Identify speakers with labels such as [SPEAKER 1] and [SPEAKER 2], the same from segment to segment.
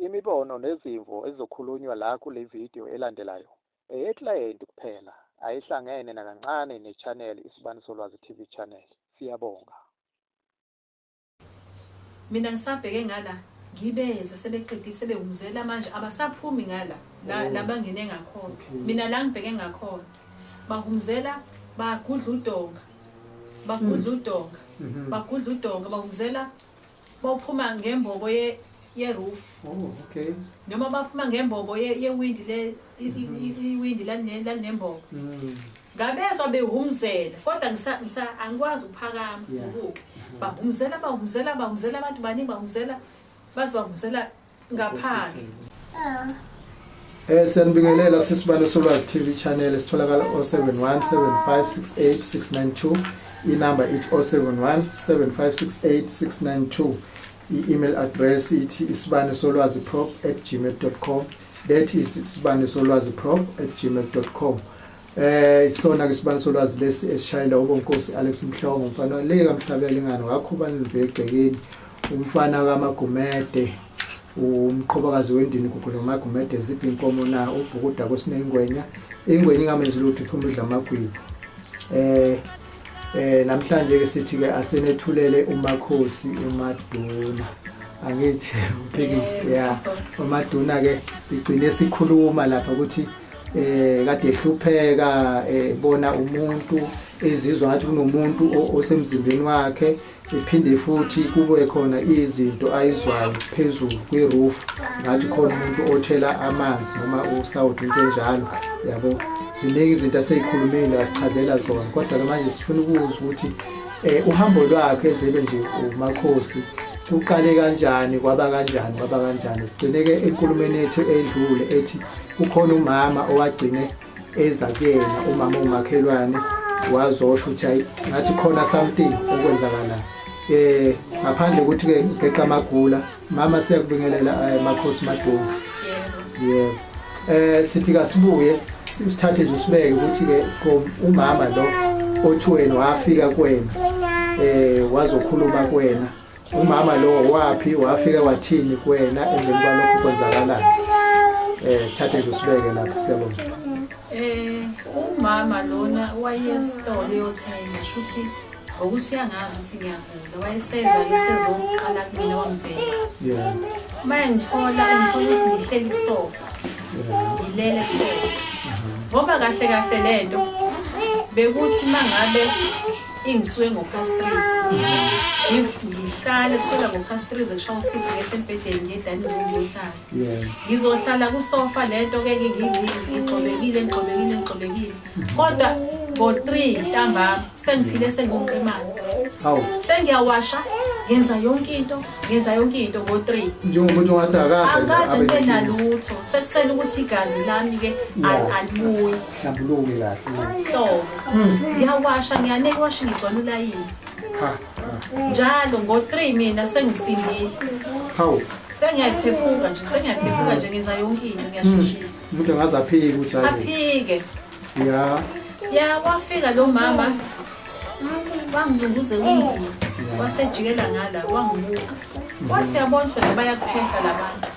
[SPEAKER 1] Imibono nezimvo ezizokhulunywa la kule vidiyo elandelayo eyeklayenti kuphela ayihlangene nakancane ne-channel Isibani Solwazi TV channel. Siyabonga.
[SPEAKER 2] Mina ngisabheke ngala ngibezwe sebeqedile sebewumzela manje abasaphumi ngala oh. labangene ngakhona mina la ngibheke ngakhona bahumzela bagudla udonga bagudla mm. udonga mm-hmm. bagudla udonga bawuzela bawuphuma ngembobo ye yeroof oh
[SPEAKER 3] okay noma baphuma
[SPEAKER 2] ngembobo ye yewindi le mm-hmm. iwindi lalinembobo mm. ngabezwa behumzela kodwa ngisa ngisa angikwazi ukuphakama ukuke mm-hmm. bahumzela bahumzela bahumzela abantu baningi bahumzela bazi bahumzela ngaphandle
[SPEAKER 3] Eh siyanibingelela sisibane solwazi TV channel sitholakala 0717568692 inamba ithi 0717568692 i-email address ithi isibane solwazi prop@gmail.com that is isibane solwazi prop@gmail.com Eh isona ke sibani solwazi lesi esishayela ubonkosi Alex Mhlongo umfana waleka mhlabela ingane wakho ubani libhegcekeni umfana kaMagumede umqhobakazi wendini kukhona uMagumede ziphi inkomo na ubhukuda kosinengwenya ingwenya ingamenzi lutho iphuma idla amagwibo eh eh namhlanje ke sithi ke asenethulele umakhosi umaduna angithi uphikisi yeah umaduna ke igcine sikhuluma lapha ukuthi eh kade ehlupheka ebona eh, umuntu ezizwa ngathi kunomuntu osemzimbeni wakhe iphinde futhi kube khona izinto ayizwayo phezulu kwi-roof ngathi khona umuntu othela amanzi noma usawuthi into enjalo yabo ziningi izinto aseyikhulumile asichazela zona kodwa-ke manje sifuna ukuzwa ukuthi um uhambo lwakhe ezebe nje umakhosi kuqale kanjani kwaba kanjani kwaba kanjani sigcine-ke enkulumeni yethu edlule ethi kukhona umama owagcine eza kuyena umama ongumakhelwane wazosho ukuthi hayi ngathi khona something okwenzakalayo eh ngaphandle ukuthi ke ngeqa magula mama siyakubingelela eh, makhosi maduma yebo eh sithi kasibuye usithathe nje usibeke ukuthi ke umama lo othiweni wafika kwena eh wazokhuluma kwena umama lowo waphi wafika wathini kuwena emveni kwalokhu kwenzakalani um sithathe nje usibeke lapho siyabona um umama lona wayesitolo
[SPEAKER 2] eyothenga shuthi ngokuthi uyangazi ukuthi ngiyagula wayeseza isezoqala kumina wangibheka uma engithola ungithola ukuthi ngihleli kusofa ngilele kusofa ngoba kahle kahle le nto bekuthi uma ngabe Ingiswe ngo past 3. If ngihlale kusela ngo past 3 zekushawa 6 ngehle embhedeni ngiye dining room ngiyohlala. Yeah. Ngizohlala ku sofa lento ke ke ngigxobekile ngigxobekile ngigxobekile. Kodwa ngo 3 ntambama sengiphile sengumqemane. Hawu. Sengiyawasha ngenza yonke into ngenza yonke into ngo 3 njengomuntu ongathi
[SPEAKER 3] akaze angaze ngibe
[SPEAKER 2] nalutho sekusele ukuthi igazi lami ke alibuyi Hlambuluke kahle.
[SPEAKER 3] So,
[SPEAKER 2] ngiyawasha ngiyane iwashi ngigcwala ulayini. Ha. Njalo ngo-3 mina sengisindile. Hawu. Sengiyayiphephuka nje, sengiyayiphephuka nje ngenza yonke into ngiyasheshisa. Umuntu angaze aphike
[SPEAKER 3] ukuthi hayi. Aphike.
[SPEAKER 2] Ya. Ya wafika lo mama. Wangilunguze umndeni. Wasejikela ngala wangibuka. Wathi yabona ukuthi bayakuphehla labantu.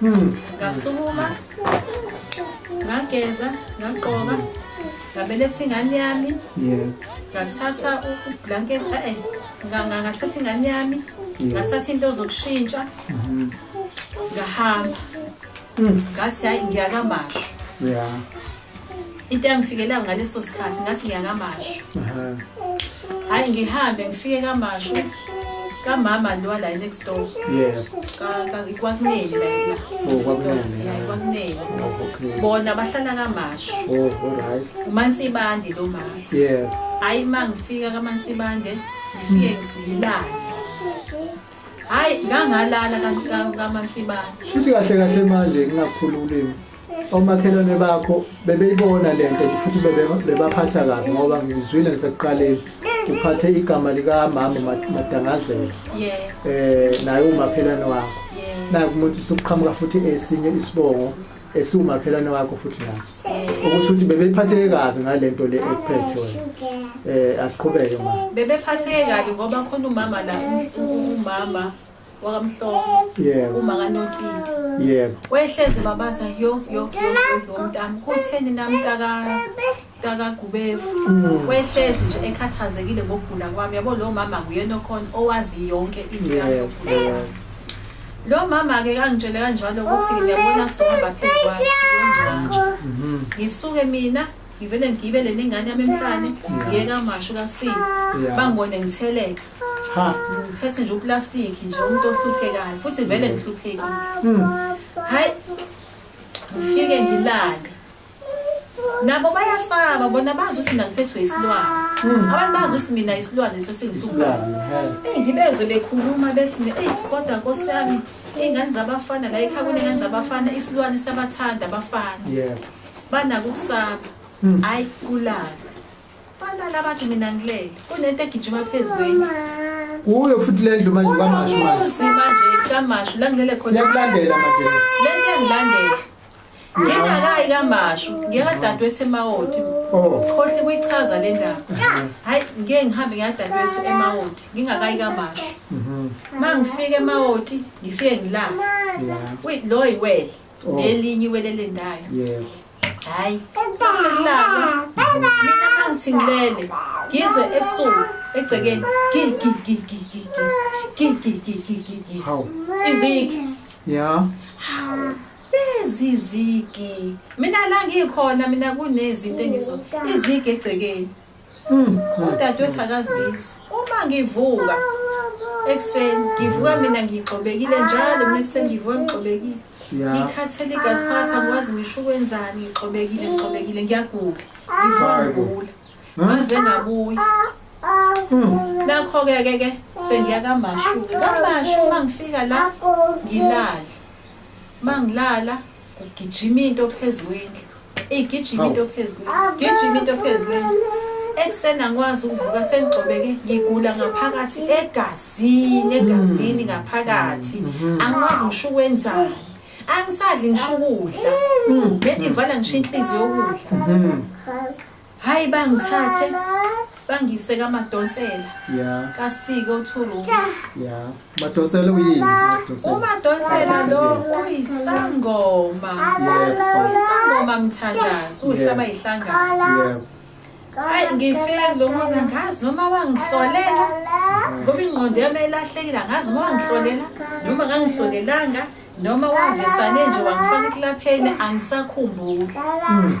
[SPEAKER 2] hmm. ngasukuma ngageza ngagqoka ngabeletha ingane yami ngathatha ublanket eh, ngathatha ingane yami ngathatha into zokushintsha mm-hmm. ngahamba hmm. ngathi hayi ngiyakamasho into yangifikela ngaleso sikhathi ngathi ngiyakamashu hayi ngihambe ngifike kamashu kamama lowa la next door kwakuneni layla kwakuneni bona bahlala kamashu oh,
[SPEAKER 3] umansibande
[SPEAKER 2] lo mama hayi ma ngifika kamansibande ngifike ngilale hayi ngangalala kamansibande shuthi kahle
[SPEAKER 3] kahle manje ngingakhululimi omakhelwane bakho bebeyibona le nto futhi bebe- bebaphatha kabi ngoba ngizwile ngisekuqaleni uphathe igama likamama Mat- madangazela Yeah, um naye umakhelwane wakho yeah, naku umuntu usuqhamuka futhi esinye isibongo esiwumakhelwane wakho futhi naso okusho ukuthi bebephatheke kabi ngale nto le ekuphethe wena um asiqhubeke ma bebephatheke kabi
[SPEAKER 2] ngoba khona umama la u- umama wakamhlophe yebo uma kanotiti yebo wehleze
[SPEAKER 3] babaza
[SPEAKER 2] yo yo yo mntami kutheni nami taka takagubefu mm. wehlezi nje ekhathazekile ngokugula kwami yabo lo mama nguyena okhona owazi yonke into yami yokugula lo mama-ke kangitshele kanjalo ukuthi ngiyabona sohamba phezu kwakhe yongcwantsho mm-hmm. ngisuke mina ngivele ngigibele nengane yami emhlane ngiyeka masho kasini bangibone ngitheleka Ha. Ngiphethe nje uplastic nje umuntu ohluphekayo futhi vele ngihluphekile. Mm. Hayi. Ngifike ngilale. Nabo bayasaba bona bazi ukuthi mina ngiphethwe isilwane. Mm. Abantu bazi ukuthi mina isilwane sesingihluphayo. Eh ngibeze bekhuluma bese eh kodwa Nkosi yami ingane zabafana la ekhaya kunengane zabafana isilwane sabathanda abafana. Yebo. Banako ukusaba. Mm. Hayi kulala. Balala abantu mina ngilele. Kunento egijima phezulu. Kuyo
[SPEAKER 3] futhi le ndlu manje kamashu manje. Uzima nje kamashu
[SPEAKER 2] la ngilele khona. Siyakulandela manje.
[SPEAKER 3] Le nto engilandela.
[SPEAKER 2] Ngingakayi kamashu, ngiyakadadwethu emawoti. Oh. Khohle kuyichaza le ndaba. Hayi ngeke ngihambe ngiyadadwethu emawoti, ngingakayi kamashu. Mhm. Mangifike emawoti, ngifike ngilala. Wait, lo yiwele. Oh. Ngelinye iwele lendayo. Yebo. hayi sekulala mina mangithi ngilele ngizwe ebusuku egcekeni gigigigigigigigigigigigi
[SPEAKER 3] Hawu. izigi
[SPEAKER 2] ya
[SPEAKER 3] hawu lezi
[SPEAKER 2] izigi mina la ngikhona mina kunezinto engizo izigi egcekeni Mm. Udadewethu akazizwa. Uma ngivuka ekuseni ngivuka mina ngigxobekile njalo mina ekuseni ngivuka ngigxobekile. Ngikhathele igazi phakathi angikwazi ngisho ukwenzani ngigxobekile ngigxobekile ngiyagula. Ngivuka ngigula. Maze ngabuya. Mm. Nakho-ke ke ke sengiya kamashu. Kamashu uma ngifika la ngilala. Uma ngilala Kugijima into phezu kwendlu. Igijima into phezu kwendlu. Gijima into phezu kwendlu. Ekuseni angikwazi ukuvuka sengigxobeke ngigula ngaphakathi egazini egazini ngaphakathi. Mm-hmm. Angikwazi ngisho ukwenzani. Angisadli ngisho ukudla. Mm-hmm. Bendivala ngisho inhliziyo yokudla. Mm-hmm. hayi bangithathe bangise kamadonsela yeah. kasike uthuru yeah.
[SPEAKER 3] madonsela uyini umadonsela
[SPEAKER 2] lo uyisangoma yes. uyisangoma mthandazi uhlaba yeah. ihlangano yeah. hayi ngifike lo muzi angazi noma wangihlolela ngoba ingqondo yami ilahlekile angazi noma wangihlolela noma kangihlolelanga noma wavesane nje wangifaka ekulapheni angisakhumbuli mm.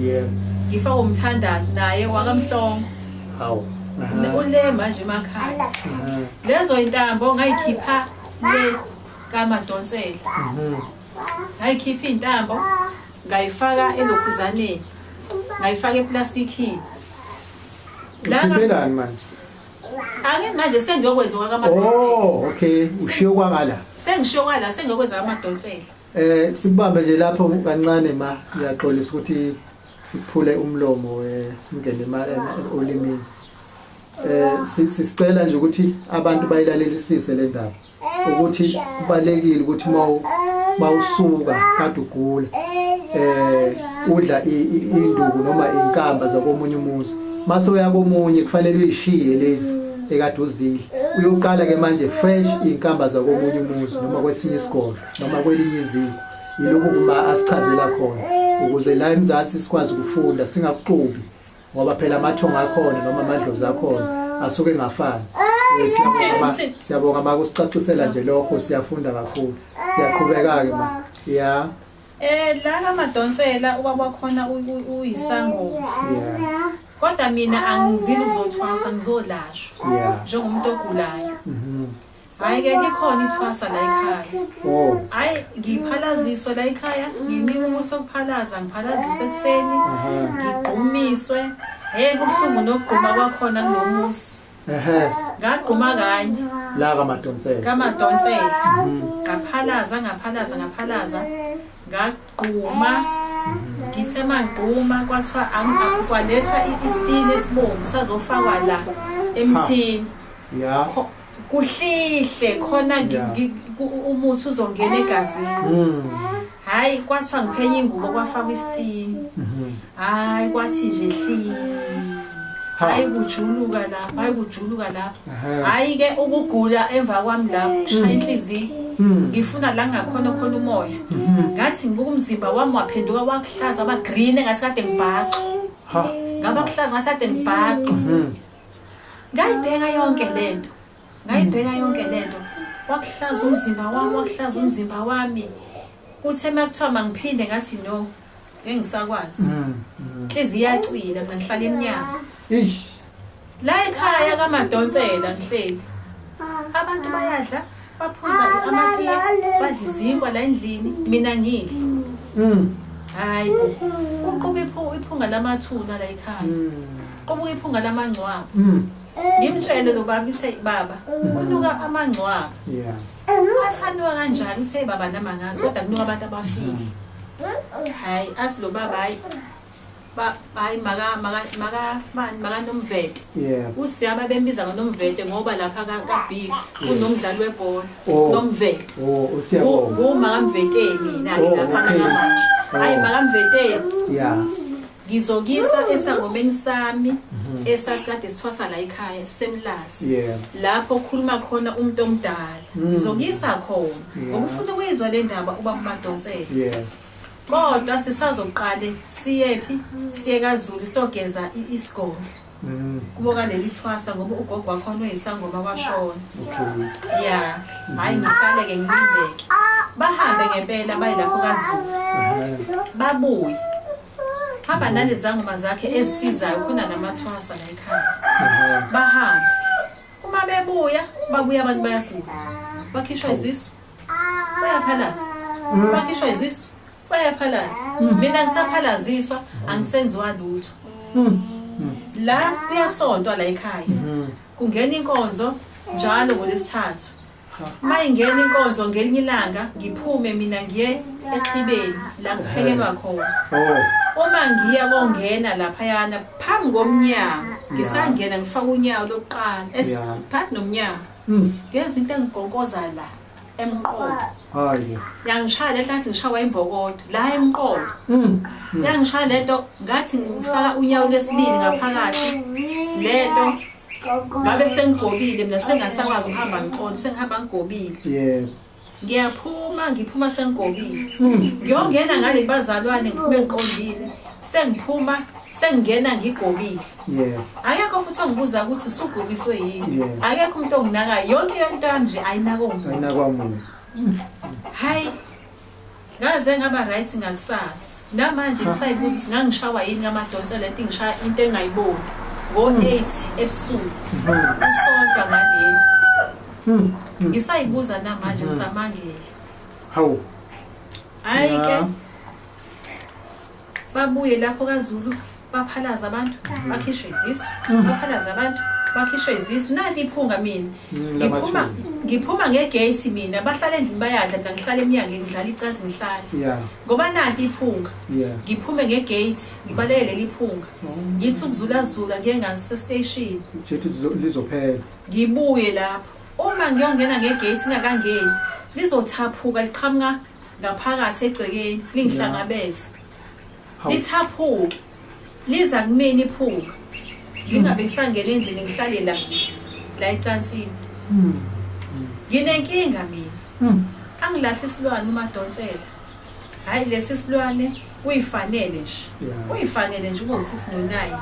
[SPEAKER 2] yebo ngifa umthandazi naye wakamhlongo
[SPEAKER 3] hawu ule
[SPEAKER 2] manje emakhaya lezo intambo ngayikhipha le kamadonsela mhm. ngayikhipha intambo ngayifaka elokhuzaneni ngayifaka eplastikini
[SPEAKER 3] la manje angeke
[SPEAKER 2] manje sengiyokwenza kwakamadonsela oh okay ushiyo
[SPEAKER 3] kwangala sengishiyo kwala
[SPEAKER 2] sengiyokwenza kamadonsela Eh sibambe
[SPEAKER 3] nje lapho kancane ma siyaxolisa ukuthi siphule umlomo eh singene imali olimini. Eh sisicela nje ukuthi abantu bayilalelisise le ndaba ukuthi kubalekile ukuthi mawu mawusuka kade ugula eh udla induku noma inkamba zakomunye umuzi mase uyakomunye kufanele uyishiye lezi ekade uzidla uyoqala ke manje fresh inkamba zakomunye umuzi noma kwesinye isikole noma kwelinye izinga yilokhu kuma asichazela khona ukuze la emzansi sikwazi ukufunda singakuxubi ngoba phela amathonga akhona noma amadlozi akhona asuke engafani eh, siyabonga ma kusicacisela nje lokho siyafunda kakhulu siyaqhubeka-ke ma ya Eh lana
[SPEAKER 2] madonsela ubaba khona uyisango. Yeah.
[SPEAKER 3] Kodwa mina
[SPEAKER 2] angizili uzothwasa ngizolashwa njengomuntu
[SPEAKER 3] ogulayo.
[SPEAKER 2] Mhm. Hayi ke likhona ithwasa la ekhaya. Oh. Hayi ngiphalaziswe la ekhaya, nginika umuthi wokuphalaza, ngiphalaziswe ekuseni, ngigqumiswe. Hey kubuhlungu nokugquma kwakhona kulomusi. Ehhe. Ngagquma kanye. La kaMadonsela.
[SPEAKER 3] KaMadonsela.
[SPEAKER 2] Mhm. Ngaphalaza, ngaphalaza, ngaphalaza. Ngagquma. Ngithe mangquma kwathiwa angikwalethwa istini esibomvu sazofakwa la emthini. Yeah.
[SPEAKER 3] kuhlihle
[SPEAKER 2] khona umuthi uzongena egazini mm. hayi kwathiwa ngiphenye ingubo kwafakwa isitini mm-hmm. hayi kwathi nje hli hayi kujuluka lapho hayi kujuluka lapho hayi ke ukugula emva kwami lapho kushaya mm. inhliziyo mm. ngifuna la ngakhona khona umoya mm-hmm. ngathi ngibuka umzimba wami waphenduka wakuhlaza waba green ngathi kade ngibhaxa ngabakuhlaza ngathi kade ngibhaxa mm-hmm. ngayibheka yonke lento ngayibheka yonke lento wakuhlaza umzimba wami wakuhlaza umzimba wami kuthe makuthiwa mangiphinde ngathi no engisakwazi mm, mm. inhliziyo iyacwila mina ngihlala emnyama ish la ekhaya kamadonsela ngihleli abantu bayadla baphuza amatiye badla izinkwa la endlini mina ngidli mm. hayi uquba iphunga lamathuna la ekhaya mm. qubuka iphunga lamangcwaba mm. ngimtshele lo baba ithe baba kunuka amangcwaba
[SPEAKER 3] athandiwa
[SPEAKER 2] kanjani ithe baba namangazi kodwa kunuka abantu abafile hayi athi lo baba hayi ba hayi maka maka maka bani maka nomvete yeah usiyaba
[SPEAKER 3] bembiza
[SPEAKER 2] ngonomvete ngoba lapha ka ka B kunomdlali webhola oh. nomvete oh usiyabo
[SPEAKER 3] ku maka mvete
[SPEAKER 2] mina oh, lapha ka manje oh. hayi maka mvete yeah
[SPEAKER 3] ngizokisa
[SPEAKER 2] esangomeni sami mhm. esasikade sithwasa la ekhaya semlazi lapho
[SPEAKER 3] okhuluma
[SPEAKER 2] khona umuntu omdala mm. ngizokisa khona ngokufuna ukuyizwa le ndaba uba kumadonsela
[SPEAKER 3] kodwa
[SPEAKER 2] sisazoqale siyephi siye kazulu sogeza i- isigodlo Mm, kubo kaleli thwasa ngoba ugogo wakhona uyisangoma washona okay. ya
[SPEAKER 3] hhayi
[SPEAKER 2] ngihlale-ke ngilindeke bahambe ngempela baye lapho kazulu Aha. babuye hamba nalezangoma zakhe ezisizayo khona namathwasa la ekhaya Aha. bahambe uma bebuya babuya abantu bayagula bakhishwa izisu bayaphalaza bakhishwa izisu bayaphalaza mina ngisaphalaziswa angisenziwa lutho la kuyasontwa la ekhaya kungena inkonzo njalo ngolesithathu uma ingena inkonzo ngelinye ilanga ngiphume mina ngiye exhibeni la kuphekelwa khona oh. uma ngiya kongena laphayana phambi komnyango ngisangena ngifaka unyawo lokuqala phakathi nomnyango Mm. Ngezwe into engigonkoza la emqolo. Hayi.
[SPEAKER 3] Yangishaya lento
[SPEAKER 2] ngathi ngishawa imbokodo la emqolo. Mm. Mm. Yangishaya lento ngathi ngifaka unyawo lesibili ngaphakathi. Lento ngabe sengigobile mina sengasakwazi ukuhamba ngiqondo sengihamba ngigobile. Yebo.
[SPEAKER 3] ngiyaphuma
[SPEAKER 2] ngiphuma sengigobile ngiyongena ngale bazalwane ngiphume ngiqondile sengiphuma sengingena ngigobile akekho
[SPEAKER 3] futhi ongibuza
[SPEAKER 2] ukuthi usugobiswe yini akekho umuntu onginakayo yonke yonto yami nje ayinakwa muntu hayi Ngaze ngaba right ngakusasa. Namanje ngisayibuza ukuthi ngangishawa yini ngamadonsela ethi ngishaya into engayiboni. Ngo-8 ebusuku. Usonta ngaleli. Hmm. Ngisayibuza namanje ngisamangele. Hawu. Hayi ke. babuye lapho kaZulu baphalaza abantu mm. bakhishwe izisu mm. baphalaza abantu bakhishwe izisu nali iphunga mina mm, ngiphuma ngiphuma ngegate mina bahlala endlini bayadla mina ngihlala emnyango ngidlala icazi ngihlala ngoba
[SPEAKER 3] nanti
[SPEAKER 2] iphunga ngiphume
[SPEAKER 3] ngegate
[SPEAKER 2] ngibaleke leli phunga oh. ngithi ukuzulazula ngiye ngasestation
[SPEAKER 3] lizophela ngibuye
[SPEAKER 2] lapho uma ngiyongena ngegate ngingakangeni lizothaphuka liqhamuka ngaphakathi egcekeni lingihlangabeza lithaphuke liza kumina iphuka ngingabe ngisangena endlini ngihlale la la ecansini hmm. nginenkinga mina hmm. angilahle isilwane umadonsela hhayi lesi silwane kuyifanele nje Yeah. kuyifanele nje ube u-six no-nine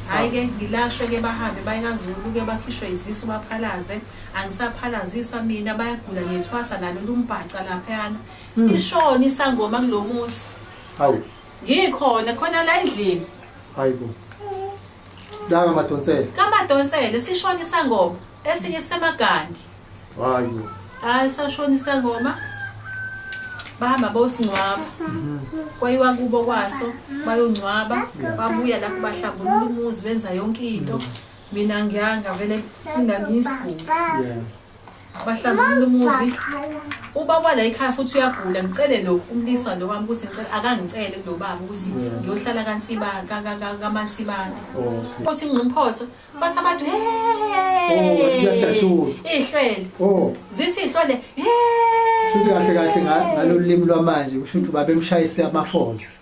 [SPEAKER 2] hhayi ke ngilashwe ke bahambe bayikazulu ke bakhishwe izisu baphalaze angisaphalaziswa mina bayagula ngethwasa nalo lumbhaca laphayana sishona isangoma kulo muzi hawu
[SPEAKER 3] ngikhona
[SPEAKER 2] khona la endlini hayi bo
[SPEAKER 3] Danga madonsele. Kamadonsele
[SPEAKER 2] sishona isangoma esinye sisemagandi. Hayi.
[SPEAKER 3] Hayi sashona
[SPEAKER 2] isangoma. Bahamba bosingcwaba. Kwayiwa kubo kwaso bayongcwaba babuya lapho bahlambulula umuzi benza yonke into. Mina ngiyanga vele mina ngiyisiguli. Yeah. bahlambulula umuzi uba kwala ekhaya futhi uyagula ngicele lo umlisa lo wami ukuthi ngicela akangicele kulo baba ukuthi ngiyohlala kansiba kamansibana futhi ingqimphotho base abantu ihlwele zithi ihlwele futhi
[SPEAKER 3] kahle kahle ngalolu limi lwamanje kusho ukuthi babemshayise amafonzi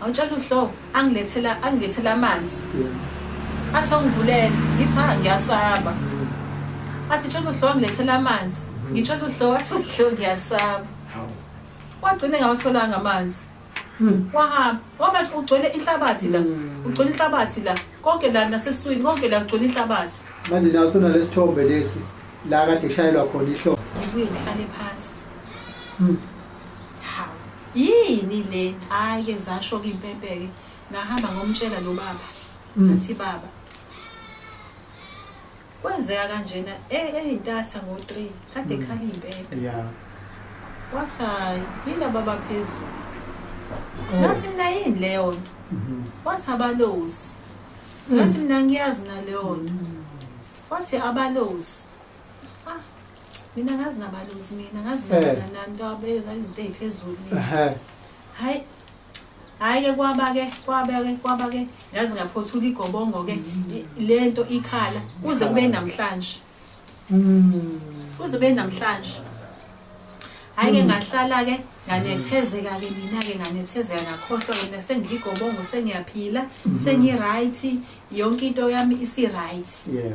[SPEAKER 2] Awutshela uhlo angilethela angilethela amanzi. Athi ungivulele ngithi ha ngiyasaba. Athi tshela uhlo angilethela amanzi. Ngitshela uhlo athi uhlo ngiyasaba. Wagcine ngawatholanga amanzi. Hmm. Wahamba waba ugcwele inhlabathi la. Hmm. Ugcwele inhlabathi la. Konke la naseswini konke la ugcwele inhlabathi. Manje nawe sona
[SPEAKER 3] lesithombe lesi la kade shayelwa khona ihlo. Ubuye ngihlale
[SPEAKER 2] phansi. Hmm. Yini le? Hayi ke zasho ke impempe ke. Ngahamba ngomtshela lo baba. Mm. Ngathi baba. Kwenzeka kanjena eh eyintatha ngo 3 kade mm. khali impempe. Yeah.
[SPEAKER 3] Wathi
[SPEAKER 2] hayi yini baba phezulu. Oh. Ngathi mina yini leyo nto? Mm-hmm. Wathi abalozi. Mm. Ngathi mina ngiyazi naleyo nto. Mm. Wathi abalozi. mina ngazi nabaluzi mina ngazi eh. nanto abeka izinto eziphezulu mina eh. hayi hayi ke kwaba ke kwaba ke kwaba ke ngazi ngaphothula igobongo ke mm. lento ikhala kuze kube namhlanje mm. kuze kube namhlanje hayi ke mm. ngahlala ke nganethezeka ke mina ke nganethezeka ngakhohlwa ke nasengigobongo sengiyaphila sengi right yonke into yami isi right yeah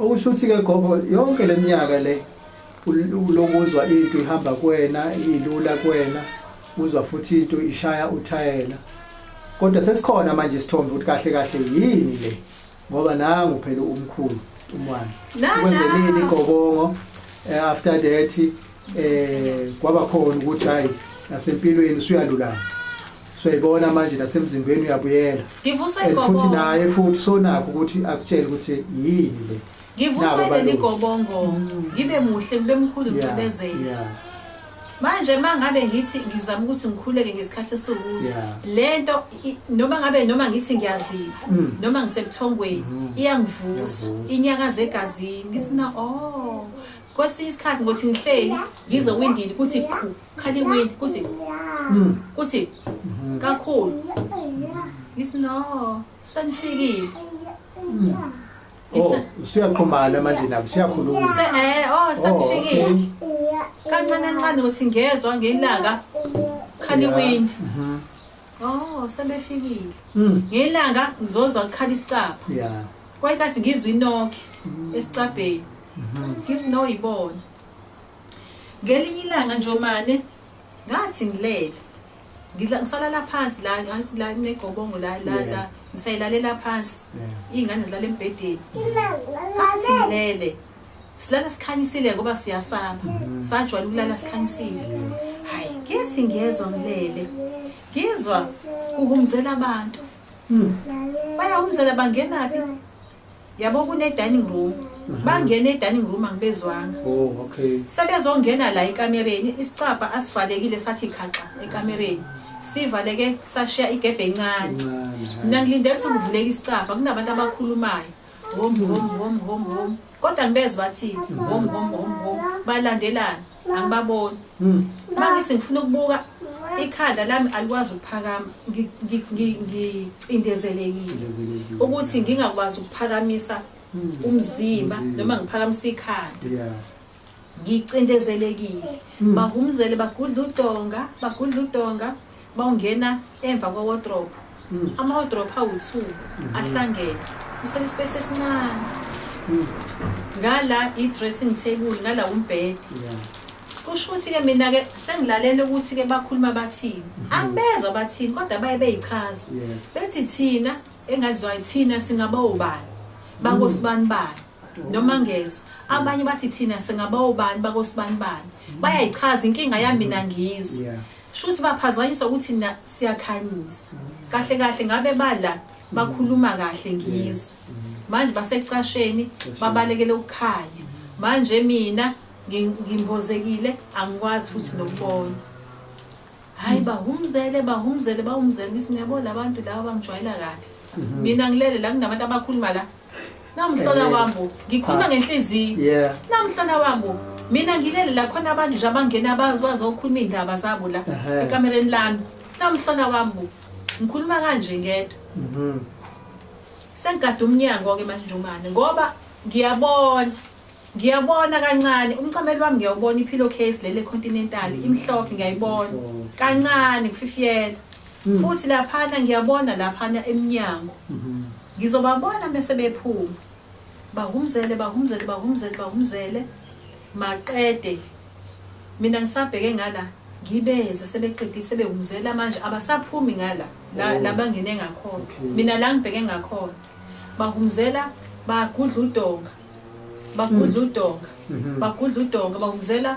[SPEAKER 2] Okusho ukuthi
[SPEAKER 3] ke gogo yonke leminyaka le lokuzwa into ihamba kuwena ilula kuwena uzwa futhi into ishaya uthayela kodwa sesikhona manje isithombe ukuthi kahle kahle yini le ngoba nangu phela umkhulu umwana ukwenzelini igobongo eh, after that eh kwaba khona ukuthi hayi nasempilweni usuyalulama soyibona manje nasemzimbeni uyabuyela ngivuswe igobongo futhi
[SPEAKER 2] naye futhi
[SPEAKER 3] sonakho ukuthi akutshele ukuthi yini le ngivuswe leli
[SPEAKER 2] gobongo ngibe muhle ngibe mkhulu ngicibezele manje mangabe ngithi ngizama ukuthi ngikhuleke ngesikhathi esiwukuthi lento noma ngabe noma ngithi ngiyazipha mm. noma ngisebuthongweni mm. iyangivusa inyakaza egazini ngisina oh kwesinye isikhathi ngothi ngihleli ngizwe windini kuthi qhu khale wind kuthi hmm. kuthi hmm. kakhulu ngithi no senifikile
[SPEAKER 3] hmm. oh, siyaxhumana manje nabo siyakhuluma eh, oh, oh senifikile
[SPEAKER 2] kancane kancane ukuthi ngezwa ngelanga khale wind mhm. oh sebefikile ngelanga ngizozwa kukhala isicapha
[SPEAKER 3] kwayikathi ngizwa
[SPEAKER 2] inoki esicabheni ngithi no yibona ngelinye ilanga nje omane ngathi ngilele ngidla ngisalala phansi la ngathi la negobongo la la la ngisayilalela phansi iy'ngane zilala embhedeni ngathi ngilele silala sikhanyisile ngoba siyasaba mm-hmm. sajwayela ukulala sikhanyisile hayi ngithi ngiyezwa ngilele ngizwa kuhumzela abantu hmm. bayahumzela bangenaphi yabo kune-dining room mhm. bangena e-dining room angibezwanga oh,
[SPEAKER 3] sebezongena la
[SPEAKER 2] ekamereni isicabha asivalekile sathi khaxa ekamereni sivaleke sashiya igebhe encane mna ngilindele ukuthi kuvuleke isicabha kunabantu abakhulumayo hom hom hom hom hom kodwa ngibezwa bathini hom hom hom hom balandelana angibaboni hmm. mangithi ngifuna ukubuka ikhanda lami alikwazi ukuphakama ngicindezelekile ukuthi ngingakwazi ukuphakamisa hmm. umzimba noma ngiphakamisa ikhanda ngicindezelekile hmm. bahumzele bagudla udonga bagudla udonga Bawungena emva kwa wardrobe. Mm. Ama wardrobe awu 2 mm-hmm. ahlangene. Usele space esincane. Mm. Ngala i dressing table ngala umbed. Yeah. Kusho ukuthi ke mina ke sengilalele ukuthi ke bakhuluma bathini. Mm-hmm. Angibezwa bathini kodwa baye beyichaza. Bethi thina engazizwa thina singaba ubani. Bakosibani bani. noma ngezwe abanye bathi thina singabawubani bakosibanibani bayayichaza inkinga yami mina ngizwe Shuthi baphazanyiswa ukuthi na siyakhanyisa. Kahle kahle ngabe bala bakhuluma kahle ngizwe. Manje basecasheni babalekele ukukhanya. Manje mina ngimbozekile angikwazi futhi nokubona. Hayi bahumzele bahumzele bahumzele ngithi ngiyabona abantu laba bangijwayela kabi. Mina ngilele la kunabantu abakhuluma la namhlona wambo ngikhuluma ngenhliziyo yeah namhlona wambo mina ngilele la khona abantu nje abangena bazokhuluma iy'ndaba zabo la Ehhe. ekamereni lami namhlona wambo ngikhuluma kanje ngedwa Mhm. sengigade umnyango-ke manje njomane ngoba ngiyabona Ngiyabona kancane umcamelo wami ngiyawubona iphilo case lele continental imhlophe ngiyayibona kancane ngififiyela mm. futhi laphana ngiyabona laphana emnyango mm-hmm. ngizobabona bese bephuma bahumzele bahumzele bahumzele bahumzele maqede mina ngisabheke ngala ngibezwe sebeqedile sebehumzela manje abasaphumi ngala oh. labangene ngakhona mina la ngibheke ngakhona bahumzela bagudla udonga bagudla udonga Mhm. bagudla udonga bawumzela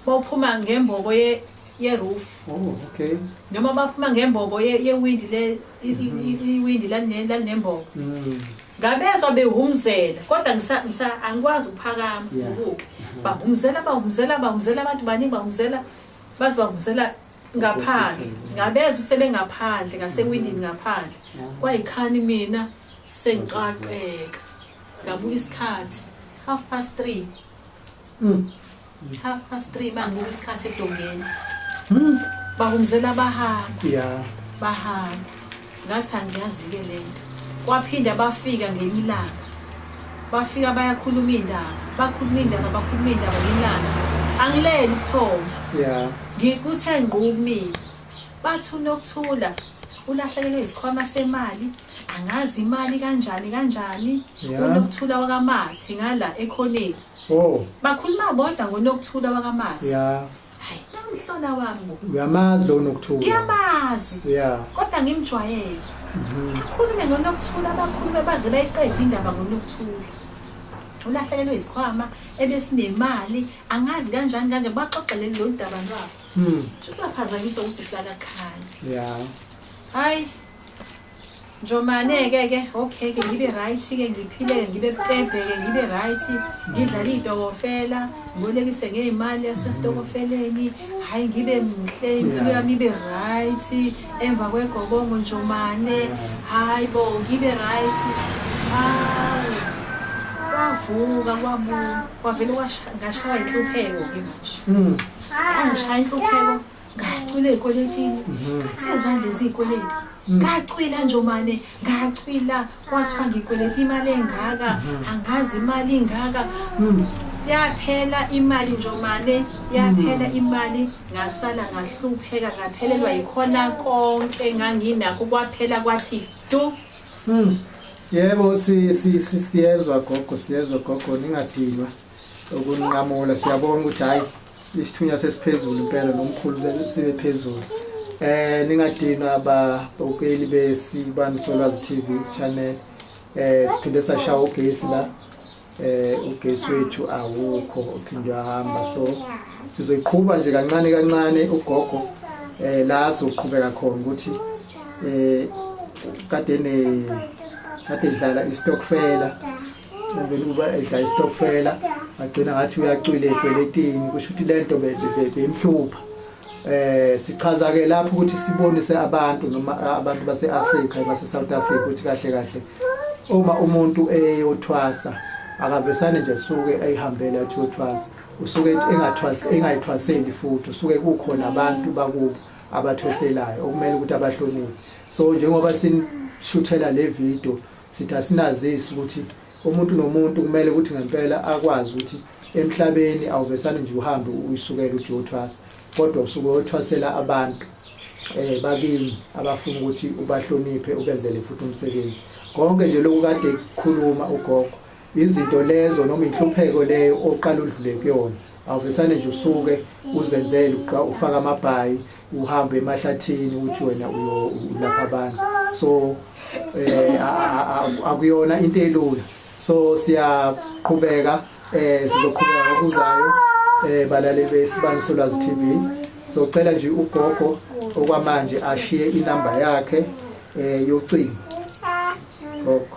[SPEAKER 2] bawuphuma ngembobo ye- yeroof Oh, okay.
[SPEAKER 3] noma baphuma
[SPEAKER 2] ngembobo ye- yewindi le i- i- i- iwindi lalne- lalinembobo Mm. ngabezwa behumzela kodwa ngisa- ngisa- angikwazi ukuphakama Yeah. ubuke bahumzela bahumzela bahumzela abantu baningi bahumzela baze bahumzela ngaphandle Opposite. ngabezwa sebengaphandle ngasewindini ngaphandle Yeah. kwayikhani mina sengiqaqeka ngabuka isikhathi half past three mm. half past three mangibuka isikhathi edongeni mm. bahumzela bahamba yeah. bahamba ngathi angiyazi-ke le nto kwaphinda bafika ngenye ilanga bafika bayakhuluma iy'ndaba bakhuluma iy'ndaba bakhuluma iy'ndaba ngilanga angileli ubuthonga yeah. ngikuthe ngqumile bathi unokuthula ulahlekelwe isikhwama semali angazi imali kanjani kanjani Yeah. unokuthula wakamathi ngala ekhoneni Oh, bakhuluma bodwa ngonokuthula wakamathi yeah. hayi namhlola wami bo. Uyamazi lo nokuthula.
[SPEAKER 3] ngiyamazi Yeah.
[SPEAKER 2] kodwa ngimjwayele Mhm. akhulume ngonokuthula abakhulume baze bayiqede indaba ngonokuthula ulahlekelwe yisikhwama ebesinemali angazi kanjani kanje baxoxeleli lolu daba lwabo Mm. shuthi baphazanyiswa ukuthi silakakhaya Yeah. hhayi Njomane ke ke okay ke ngibe right ke ngiphile ngibe pepe ke ngibe right ngidlala idokofela ngolekise ngeimali yasestokofeleni hayi ngibe muhle impilo yami ibe right emva kwegobongo njomane hayi bo ngibe right hayi kwavuka kwabu kwavele ngashaya inhlupheko ke manje hmm. angishaya inhlupheko ngacwila ey'kweletini ngathi ezandla eziy'kweleti ngacwila nje omane ngacwila kwathiwa ngikweleta imali engaka angazi imali ingaka yaphela imali nje omane yaphela imali ngasala ngahlupheka ngaphelelwa yikhona konke nganginakho kwaphela kwathi tu hmm.
[SPEAKER 3] yebo siyezwa gogo siyezwa gogo ningadinwa ukunqamula siyabonga ukuthi hhayi isithunywa sesiphezulu impela nomkhulu sibe phezulu eh ningadina babukeli besibanisolwazi TV channel eh siphinde sashawa ugesi la eh ugesi wethu awukho uphinde ahamba so sizoyiqhuba nje kancane kancane ugogo eh la soqhubeka khona ukuthi eh kade ne kade dlala istokfela ngivele ukuba edlala isitokfela agcina ngathi uyacwile ekweletini kusho ukuthi le nto beyimhlupha eh sichaza ke lapho ukuthi sibonise abantu noma abantu base-Afrika base South Africa ukuthi kahle kahle uma umuntu eyothwasa akavesane nje suke ayihambele athi uyothwasa usuke engathwasi engayithwaseli futhi usuke kukhona abantu bakubo abathweselayo okumele ukuthi abahloniphe so njengoba sinishuthela le video sithi asinazisi ukuthi umuntu nomuntu kumele ukuthi ngempela akwazi ukuthi emhlabeni awuvesane nje uhambe uyisukela uthi uyothwasa kodwa usuke uyothwasela abantu eh bakini abafuna ukuthi ubahloniphe ubenzele futhi umsebenzi konke nje lokhu kade kukhuluma ugogo izinto lezo noma inhlupheko leyo oqala udlule kuyona awuvesane nje usuke uzenzele ufaka amabhayi uhambe emahlathini uthi wena ulapha abantu so eh akuyona into elula so siyaqhubeka eh sizoqhubeka ngokuzayo eh balaleli besibani solwazi TV socela nje ugogo okwamanje ashiye inamba yakhe eh yocingo gogo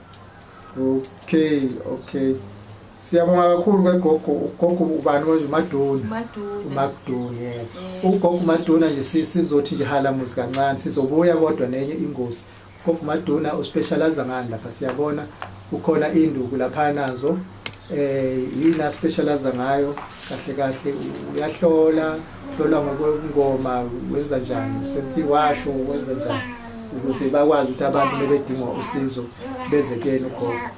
[SPEAKER 3] okay okay siyabonga kakhulu ngegogo ugogo ubani manje umaduna umaduna eh. ugogo umaduna nje sizothi nje halamuzi kancane sizobuya kodwa nenye ingozi ugogo umaduna uspecialize ngani lapha siyabona kukhona induku lapha nazo eh yini aspecialize ngayo kahle kahle uyahlola hlola ngokwengoma wenza njani usethi washo wenza njani ukuze bakwazi ukuthi abantu bebedinga usizo beze kuyena ukhona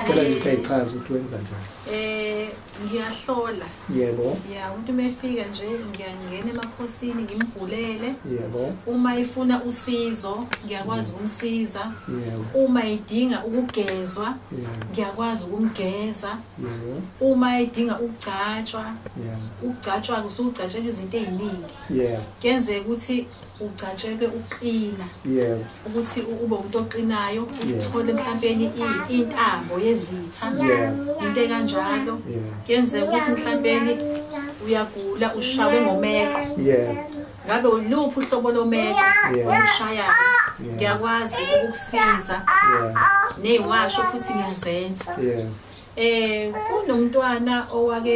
[SPEAKER 3] cela ngithi ayichaze ukuthi wenza njani eh ngiyahlola
[SPEAKER 2] yebo ya
[SPEAKER 3] umuntu uma efika
[SPEAKER 2] nje ngiyangena emakhosini ngimbhulele yebo uma
[SPEAKER 3] ifuna
[SPEAKER 2] usizo ngiyakwazi ukumsiza yebo uma
[SPEAKER 3] idinga
[SPEAKER 2] ukugezwa yebo ngiyakwazi ukumgeza yebo
[SPEAKER 3] uma idinga
[SPEAKER 2] ukugcatshwa yebo
[SPEAKER 3] ukugcatshwa-ke usugcatshelwa
[SPEAKER 2] izinto ey'ningi yebo kuyenzeka
[SPEAKER 3] ukuthi
[SPEAKER 2] ugcatshelwe ukuqina yebo ukuthi
[SPEAKER 3] ube umuntu
[SPEAKER 2] oqinayo uthole mhlawumbeni intambo yezitha into
[SPEAKER 3] ekanjalo
[SPEAKER 2] kuyenzeka
[SPEAKER 3] ukuthi
[SPEAKER 2] mhlawumbeni uyagula ushawe ngomeqo yebo
[SPEAKER 3] ngabe uluphi
[SPEAKER 2] uhlobo lomeqo ongushayayo ngiyakwazi ukukusiza
[SPEAKER 3] neyiwasho futhi
[SPEAKER 2] ngiyazenza um kunomntwana owake